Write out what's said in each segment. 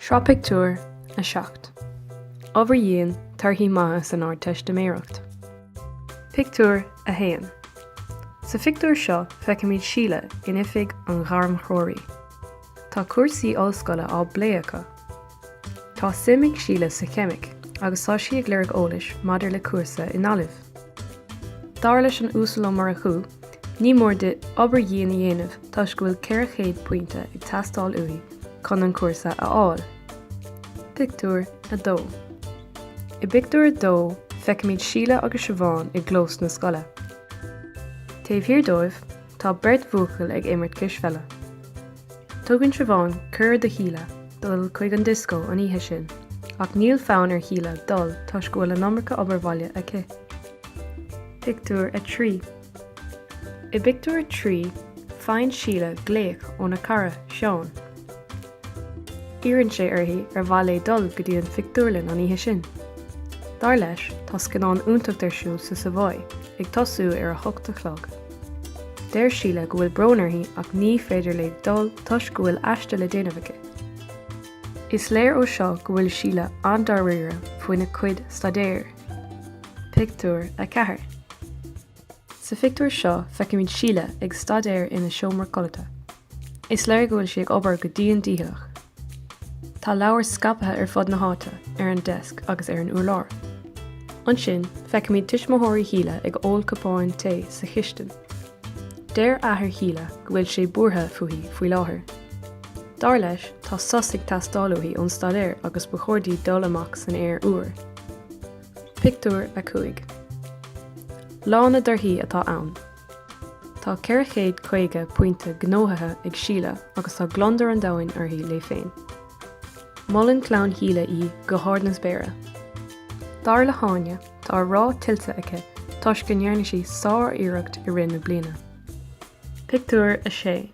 Sraith pictiúr a seacht. Obair dhian, Torthaí maithe san Ardteistiméireacht. Pictiúr 1 Sa phictiúr seo feicimid Síle in oifig an ghairmthreoraí. Tá cúrsaí ollscoile á bplé acu. Tá suim ag Síle sa cheimic agus tá sí ag lorg eolais maidir le cúrsa i nGaillimh. Dar leis an Uasal Ó Murchú, ní mór di obair dhian a dhéanamh toisc go bhfuil 400 pointe ag teastáil uaithi chun an cúrsa a fháil. Pictiúr 2 I bpictiúr a dó, feicimid Síle agus Siobhán i gclós na scoile. Taobh thiar dóibh, Tá beirt bhuachaill ag imirt cispheile. Tugann Siobhán cuireadh do Shíle dul chuig an dioscó an oíche sin ach níl fonn ar Shíle dul toisc go bhfuil an iomarca obair bhaile aici. Pictiúr 3 I bpictiúr a trí, faigheann Síle glaoch óna cara, Seán. Iarrann sé uirthi ar mhaith léi dul go dtí an phictiúrlann an oíche sin. Dar leis, tá scannán iontach ar siúl sa Savoy ag tosú ar a hocht a chlog. Deir Síle go bhfuil brón uirthi ach ní féidir léi dul toisc go bhfuil aiste le déanamh aici. Is léir ó seo go bhfuil Síle an-dáiríre faoina cuid staidéir. Pictiúr 4 Sa phictiúr seo feicimid Síle ag staidéar ina seomra codlata. Is léir go bhfuil sí ag obair go dian dícheallach. Tá leabhair scaipthe ar fud na háite, ar an deasc agus ar an urlár. Ansin, feicimid tuismitheoirí Shíle ag ól cupáin tae sa chistin. Deir athair Shíle go bhfuil sé buartha fúithi faoi láthair. Dar leis, tá sos ag teastáil uaithi ón staidéar agus ba chóir di dul amach san aer úr. Pictiúr 5 Lá na dtorthaí atá ann. Tá 450 pointe gnóthaithe ag Síle agus tá gliondar an domhain uirthi léi féin. Molann clann Shíle í go hard na spéire. Dar le hÁine, tá an rath tuillte aici toisc go ndearna sí sár-iarracht i rith na bliana. Pictiúr 6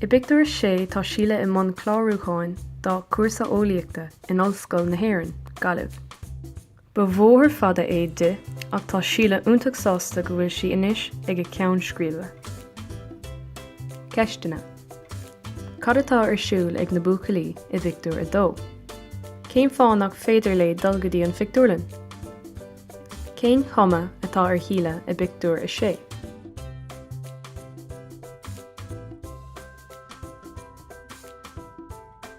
I bpictiúr a sé tá Síle i mbun clárúcháin dá cúrsa eolaíochta in Ollscoil na hÉireann, Gaillimh. Ba bhóthar fada é di ach tá Síle iontach sásta go bhfuil sí anois ag a ceann scríbe. Ceisteanna, Cad atá ar siúl ag na buachaillí i bpictiúr a dó? Cén fáth nach féidir léi dul go dtí an phictiúrlann? Cén chuma atá ar Shíle i bpictiúr a sé?